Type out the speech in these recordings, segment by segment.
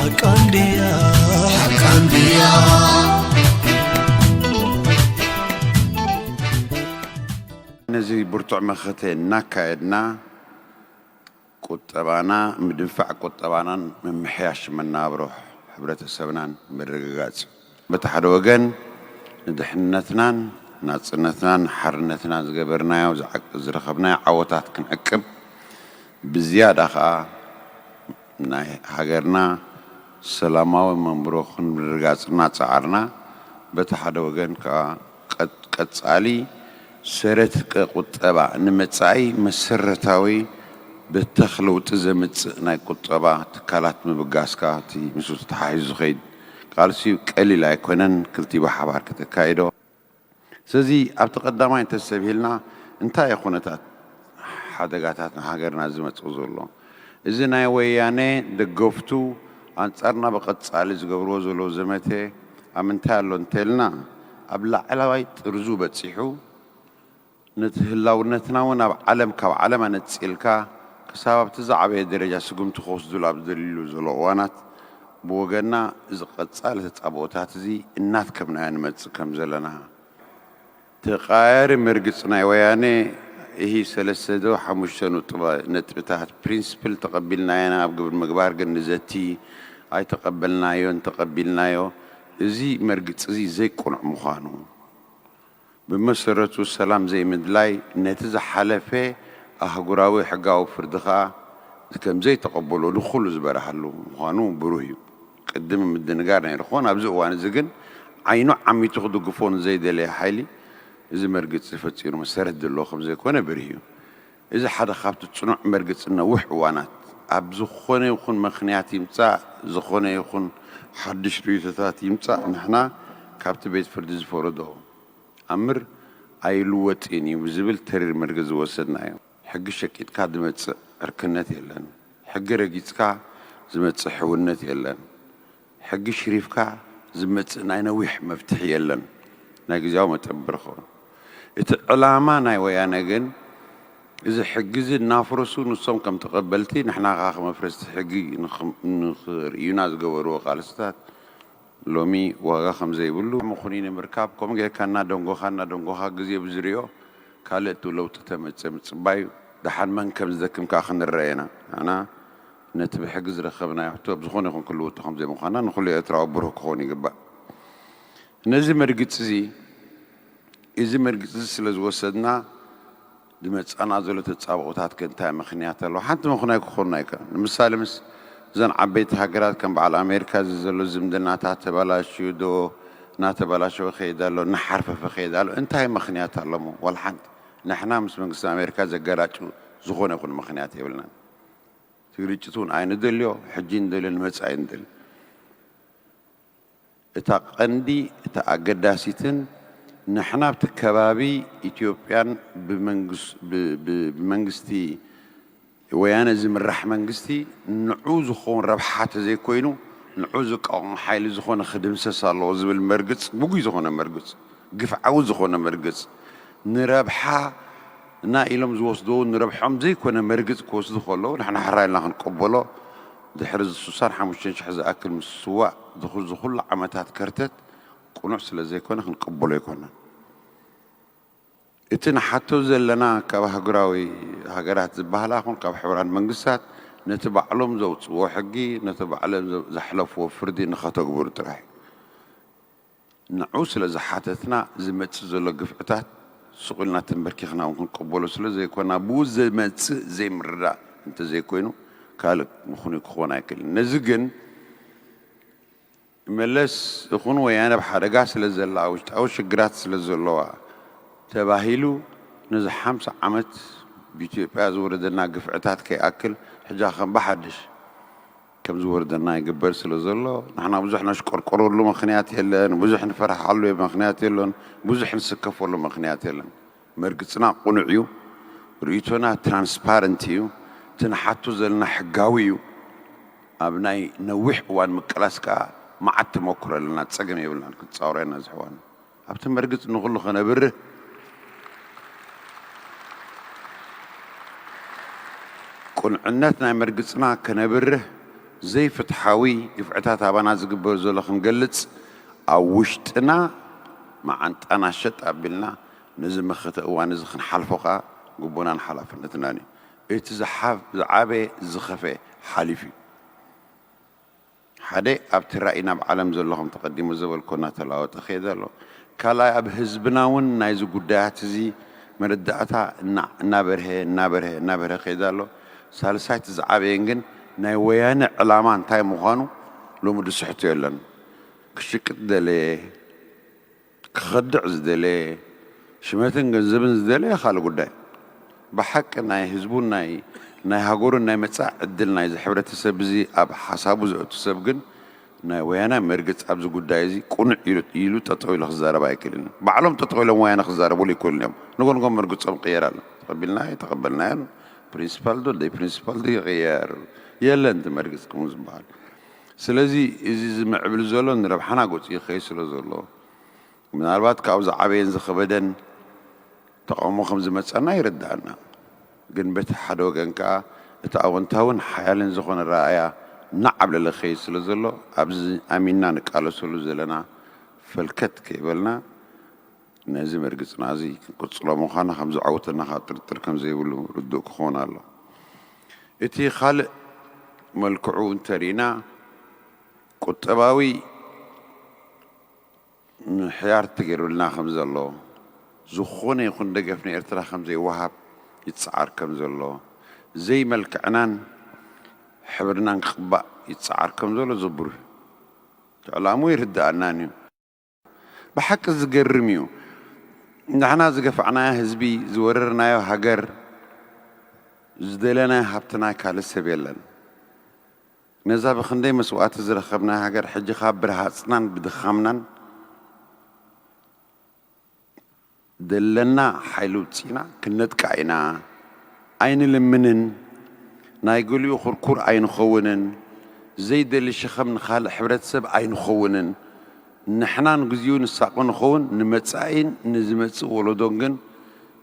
ሓቃ እንድያ ሓቃ ነዚ ብርቱዕ መኸተ እናካየድና ቁጠባና ምድንፋዕ ቁጠባናን ምምሕያሽ መናብሮ ሕብረተሰብናን ምርግጋፅ በቲ ሓደ ወገን ንድሕንነትናን ናጽነትናን ንሓርነትናን ዝገበርናዮ ዝረኸብናዮ ዓወታት ክንዕቅብ ብዝያዳ ከኣ ናይ ሃገርና ሰላማዊ መንብሮ ክንርጋጽ እናጸዓርና በቲ ሓደ ወገን ከኣ ቀጻሊ ሰረትቀ ቁጠባ ንመጻኢ መሰረታዊ በተኽ ለውጢ ዘምጽእ ናይ ቁጠባ ትካላት ምብጋስካ እቲ ምስኡ ተተሓሒዙ ዝኸይድ ቃልሲ ቀሊል ኣይኮነን ክልቲኡ ብሓባር ከተካይዶ። ስለዚ ኣብቲ ቀዳማይ እንተሰብሂልና እንታይ እዩ ኩነታት ሓደጋታት ንሃገርና ዝመጽእ ዘሎ? እዚ ናይ ወያነ ደገፍቱ ኣንጻርና ብቀጻሊ ዝገብርዎ ዘለዉ ዘመተ ኣብ ምንታይ ኣሎ እንተልና ኣብ ላዕላዋይ ጥርዙ በጺሑ ነቲ ህላውነትና እውን ኣብ ዓለም ካብ ዓለም ኣነጺልካ ክሳብ ኣብቲ ዝዓበየ ደረጃ ስጉምቲ ክወስዱሉ ኣብ ዝደልዩሉ ዘሎ እዋናት ብወገንና እዚ ቀጻሊ ተጻብኦታት እዚ እናትከብናዮ ንመጽእ ከም ዘለና ተቐያያሪ መርግጽ ናይ ወያኔ እሂ ሰለስተ ዶ ሓሙሽተ ነጥብታት፣ ፕሪንስፕል፣ ተቐቢልናዮ ኢና፣ ኣብ ግብሪ ምግባር ግን ንዘቲ ኣይተቐበልናዮን ተቐቢልናዮ እዚ መርግጽ እዚ ዘይቅኑዕ ምዃኑ ብመሰረቱ ሰላም ዘይምድላይ ነቲ ዝሓለፈ ኣህጉራዊ ሕጋዊ ፍርዲ ከኣ ከም ዘይተቐበሎ ንኹሉ ዝበርሃሉ ምዃኑ ብሩህ እዩ። ቅድም ምድንጋር ነይሩ ክኾን፣ ኣብዚ እዋን'ዚ ግን ዓይኑ ዓሚቱ ክድግፎ ንዘይደለየ ሓይሊ እዚ መርግጺ ፈጺሩ መሰረት ዘለዎ ከም ዘይኮነ ብርህ እዩ። እዚ ሓደ ካብቲ ጽኑዕ መርግጽ ንነዊሕ እዋናት፣ ኣብ ዝኾነ ይኹን ምኽንያት ይምጻእ ዝኾነ ይኹን ሓድሽ ርእይቶታት ይምጻእ ንሕና ካብቲ ቤት ፍርዲ ዝፈረዶ ኣምር ኣይልወጥን እዩ ብዝብል ተሪር መርገጽ ዝወሰድናዮ። ሕጊ ሸቂጥካ ዝመጽእ ዕርክነት የለን። ሕጊ ረጊጽካ ዝመጽእ ሕውነት የለን። ሕጊ ሽሪፍካ ዝመጽእ ናይ ነዊሕ መፍትሒ የለን ናይ ግዝያዊ መጠብር ኸዉን እቲ ዕላማ ናይ ወያነ ግን እዚ ሕጊ እዚ እናፍርሱ ንሶም ከም ተቀበልቲ ንሕና ከኣ ከም ኣፍረስቲ ሕጊ ንክርእዩና ዝገበርዎ ቃልስታት ሎሚ ዋጋ ከም ዘይብሉ ምኽኑይ ንምርካብ ከምኡ ጌርካ እናደንጎኻ እናደንጎኻ ግዜ ብዝሪኦ ካልእ ለዉጢ ተመጽእ ምጽባይ እዩ ደሓን መን ከም ዝደክም ከኣ ክንረኣ ኢና ንሕና ነቲ ብሕጊ ዝረከብናዮ ሕቶ ኣብ ዝኾነ ይኹን ክልውጦ ከም ዘይምዃና ንኹሉ ኤርትራዊ ብሩህ ክኸውን ይግባእ። ነዚ መርግጺዚ እዚ መርግጺዚ ስለ ዝወሰድና ዝመጻና ዘሎ ተጻብኦታት ከ እንታይ ምክንያት ኣለዎ? ሓንቲ ምክናይ ክኾኑና ኣይከኣሉን። ንምሳሌ ምስ እዘን ዓበይቲ ሃገራት ከም በዓል ኣሜሪካ እዚ ዘሎ ዝምድናታት ተበላሽዩ ዶ እናተበላሸወ ይኸይድ ኣሎ? እናሓርፈፈ ይኸይድ ኣሎ? እንታይ ምክንያት ኣሎሞ? ዋላ ሓንቲ ንሕና ምስ መንግስቲ ኣሜሪካ ዘገራጩ ዝኾነ ይኹን ምክንያት የብልናን። እቲ ግርጭት እውን ኣይንደልዮ፣ ሕጂ ንደልዮ ንመጻኢ ንደልዮ። እታ ቀንዲ እታ ኣገዳሲትን ንሕና ኣብቲ ከባቢ ኢትዮጵያን ብመንግስቲ ወያነ ዝምራሕ መንግስቲ ንዑ ዝኸውን ረብሓ ተዘይኮይኑ ንዑ ዝቃወም ሓይሊ ዝኾነ ክድምሰስ ኣለዎ ዝብል መርግጽ ግጉይ ዝኾነ መርግጽ ግፍዓዊ ዝኾነ መርግጽ ንረብሓ እና ኢሎም ዝወስድዎ ውን ንረብሐኦም ዘይኮነ መርግጽ ክወስዱ ከለዉ ንሕና ሕራይ ኢልና ክንቀበሎ ድሕሪ እዚ ስሳን ሓሙሽተን ሽሕ ዝኣክል ምስዋእ ዝዚ ኩሉ ዓመታት ከርተት ቅኑዕ ስለ ዘይኮነ ክንቀበሎ ኣይኮናን እቲ ንሓቶ ዘለና ካብ ኣህጉራዊ ሃገራት ዝባሃላ ኩን ካብ ሕቡራት መንግስታት ነቲ ባዕሎም ዘውጽዎ ሕጊ ነቲ ባዕለ ዘሕለፍዎ ፍርዲ ንኸተግብሩ ጥራሕ እዩ። ንዑ ስለ ዝሓተትና ዝመጽእ ዘሎ ግፍዕታት ሱቕ ኢልና ተምበርኪኽና እውን ክንቅበሎ ስለ ዘይኮና ብኡ ዝመጽእ ዘይምርዳእ እንተ ዘይኮይኑ ካልእ ምኽኑይ ክኾን ኣይክእልን። ነዚ ግን መለስ ይኹን ወያነ ኣብ ሓደጋ ስለ ዘላ ውሽጣዊ ሽግራት ስለ ዘለዋ ተባሂሉ ነዚ ሓምሳ ዓመት ብኢትዮጵያ ዝወረደና ግፍዕታት ከይኣክል ሕጃ ከም ብሓድሽ ከም ዝወርደና ይግበር ስለ ዘሎ፣ ንሕና ብዙሕ ነሽቆርቆረሉ ምኽንያት የለን፣ ብዙሕ ንፈርሓሉ ምኽንያት የሎን፣ ብዙሕ ንስከፈሉ ምኽንያት የለን። መርግጽና ቅኑዕ እዩ፣ ርእይቶና ትራንስፓረንት እዩ፣ እቲ ንሓቶ ዘለና ሕጋዊ እዩ፣ ኣብ ናይ ነዊሕ እዋን ምቅላስ ከኣ መዓት ተመኩሮ ኣለና፣ ጸገም የብልናን ክንጻወሮ ኢና ዝሕዋና። ኣብቲ መርግጽ ንኹሉ ከነብርህ ቁንዕነት ናይ መርግጽና ከነብርህ ዘይፍትሓዊ ግፍዕታት ኣባና ዝግበር ዘሎ ክንገልጽ ኣብ ውሽጥና መዓንጣና ሸጥ ኣቢልና ነዚ መኸተ እዋን እዚ ክንሓልፎ ከኣ ግቡእናን ሓላፍነትናን እዩ። እቲ ዝዓበየ ዝኸፍኤ ሓሊፉ እዩ። ሓደ ኣብቲ ራኢ ናብ ዓለም ዘሎ ከም ተቀዲሙ ዘበልኩ እናተላወጠ ከይደ ኣሎ። ካልኣይ ኣብ ህዝብና እውን ናይዚ ጉዳያት እዚ መረዳእታ እናበርሀ እናበርሀ እናበርሀ ከይደ ኣሎ። ሳልሳይ እቲ ዝዓበየን ግን ናይ ወያነ ዕላማ እንታይ ምዃኑ ሎሚ ዝስሕቶ የለን። ክሽቅጥ ደለየ፣ ክኸድዕ ዝደለየ ሽመትን ገንዘብን ዝደለየ ካልእ ጉዳይ ብሓቂ ናይ ህዝቡን ናይ ናይ ሃገሩን ናይ መጻኢ ዕድል ናይዚ ሕብረተሰብ እዚ ኣብ ሓሳቡ ዘእቱ ሰብ ግን ናይ ወያናይ መርገጽ ኣብዚ ጉዳይ እዚ ቅኑዕ ኢሉ ኢሉ ጠጠው ኢሉ ክዛረብ ኣይክእልን እዩ ባዕሎም ጠጠው ኢሎም ወያነ ክዛረብሉ ኣይክእሉን እዮም ንጎንጎም መርግጾም ቅየር ኣሎ ተቐቢልና ኣይተቐበልናዮን ፕሪንሲፓል ዶ ደይ ፕሪንሲፓል ዶ ይቕየር የለን እቲ መርግጽ ከምኡ ዝበሃል ስለዚ እዚ ዝምዕብል ዘሎ ንረብሓና ገጹ ይኸይድ ስለ ዘሎ፣ ምናልባት ካብኡ ዝዓበየን ዝኸበደን ተቓውሞ ከም ዝመጸና ይርድኣና። ግን በቲ ሓደ ወገን ከኣ እቲ ኣወንታዊን ሓያልን ዝኾነ ኣረኣእያ እናዓብለለ ክኸይድ ስለ ዘሎ ኣብዚ ኣሚንና ንቃለሰሉ ዘለና ፈልከት ከይበልና፣ ነዚ ምርግጽና እዚ ክንቅጽሎ ምዃና ከም ዘዐውተና ከኣ ጥርጥር ከም ዘይብሉ ርዱእ ክኸውን ኣለዎ። እቲ ካልእ መልክዑ እንተ ርኢና ቁጠባዊ ምሕያር ተገይሩልና ከም ዘሎ፣ ዝኾነ ይኹን ደገፍ ንኤርትራ ከም ዘይወሃብ ይጸዓር ከም ዘሎ፣ ዘይመልክዕናን ሕብርናን ክቕባእ ይጸዓር ከም ዘሎ ዘቡር እዩ። እቲ ዕላምኡ ይርደኣናን እዩ። ብሓቂ ዝገርም እዩ ንሕና ዝገፋዕናዮ ህዝቢ ዝወረርናዮ ሃገር ዝደለናዮ ሃብትና ካልእ ሰብ የለን ነዛ ብክንደይ መስዋእቲ ዝረከብናያ ሃገር ሕጂ ከኣ ብረሃጽናን ብድኻምናን ዘለና ሓይሊ ኣውጺእና ክንነጥቃ ኢና ኣይንልምንን ናይ ገሊኡ ኩርኩር ኣይንኸውንን ዘይደሊ ሸኸም ንኻልእ ሕብረተሰብ ኣይንኸውንን ንሕና ንግዚኡ ንሳቆ ንኸውን ንመጻኢን ንዝመጽእ ወለዶን ግን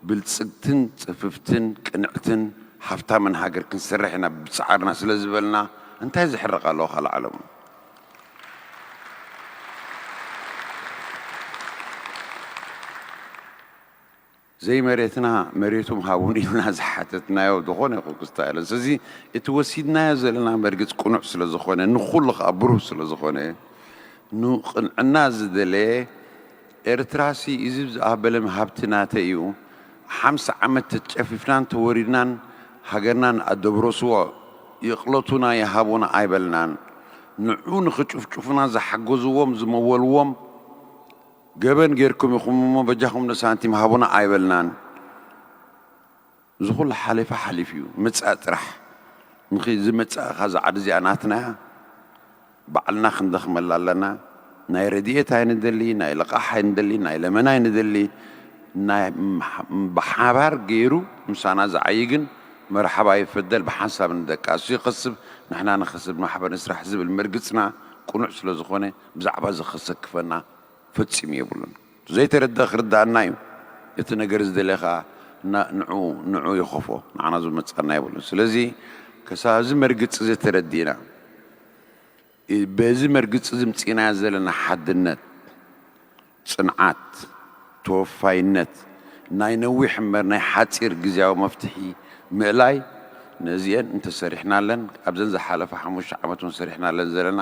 ብልጽግትን ጽፍፍትን ቅንዕትን ሃፍታምን ሃገር ክንሰርሕ ኢና ብብጻዕርና ስለዝበልና እንታይ ዘሕርቕ ኣለዎ ካልእ ዓለም ዘይመሬትና መሬቱ ምሃቡን ኢልና ዝሓተትናዮ ዝኾነ ይኹን ክስታ የለን። ስለዚ እቲ ወሲድናዮ ዘለና መርግፅ ቅኑዕ ስለ ዝኾነ ንኹሉ ከዓ ብሩህ ስለ ዝኾነ ንቕንዕና ዝደለየ ኤርትራሲ እዚብ ዝኣበለም ሃብቲ ናተይ እዩ ሓምሳ ዓመት ተጨፊፍናን ተወሪርናን ሃገርናን ኣደብሮስዎ ይቅሎቱና ይሃቡና ኣይበልናን ንዑ ንክጭፍጭፉና ዝሓገዝዎም ዝመወልዎም ገበን ገርኩም ኢኹም እሞ በጃኹም ንሳንቲም ሃቡና ኣይበልናን እዚ ኩሉ ሓሊፋ ሓሊፉዩ ምጻእ ጥራሕ ምኺ ዝመጻእ እኻ እዛ ዓዲ እዚኣ ናትና እያ ባዕልና ክንደኽመላ ኣለና ናይ ረዲኤት ኣይንደሊ ናይ ልቓሕ ኣይንደሊ ናይ ለመና ኣይንደሊ ናይ ብሓባር ገይሩ ምሳና ዝዓይ ግን መርሓባ ይፈደል ብሓንሳብ ንደቂ ኣሱ ይኸስብ ንሕና ንኸስብ ማሕበር ንስራሕ ዝብል መርግጽና ቁኑዕ ስለዝኾነ ብዛዕባ እዚ ከሰክፈና ፈጺሙ የብሉን። ዘይተረደ ክርደኣና እዩ እቲ ነገር ዝደለ ከኣ እና ንዑ ንዑ ይኸፎ ንዓና ዝመጻና የብሉን ስለዚ ከሳብ እዚ መርግጺ እዚ ተረዲእና በዚ መርግጺ እዚ ምጺእናዮ ዘለና ሓድነት ጽንዓት ተወፋይነት ናይ ነዊሕ እምበር ናይ ሓጺር ግዝያዊ መፍትሒ ምእላይ ነዚኤን እንተሰሪሕናለን ኣብዘን ዝሓለፋ ሓሙሽተ ዓመት እውን ሰሪሕናለን ዘለና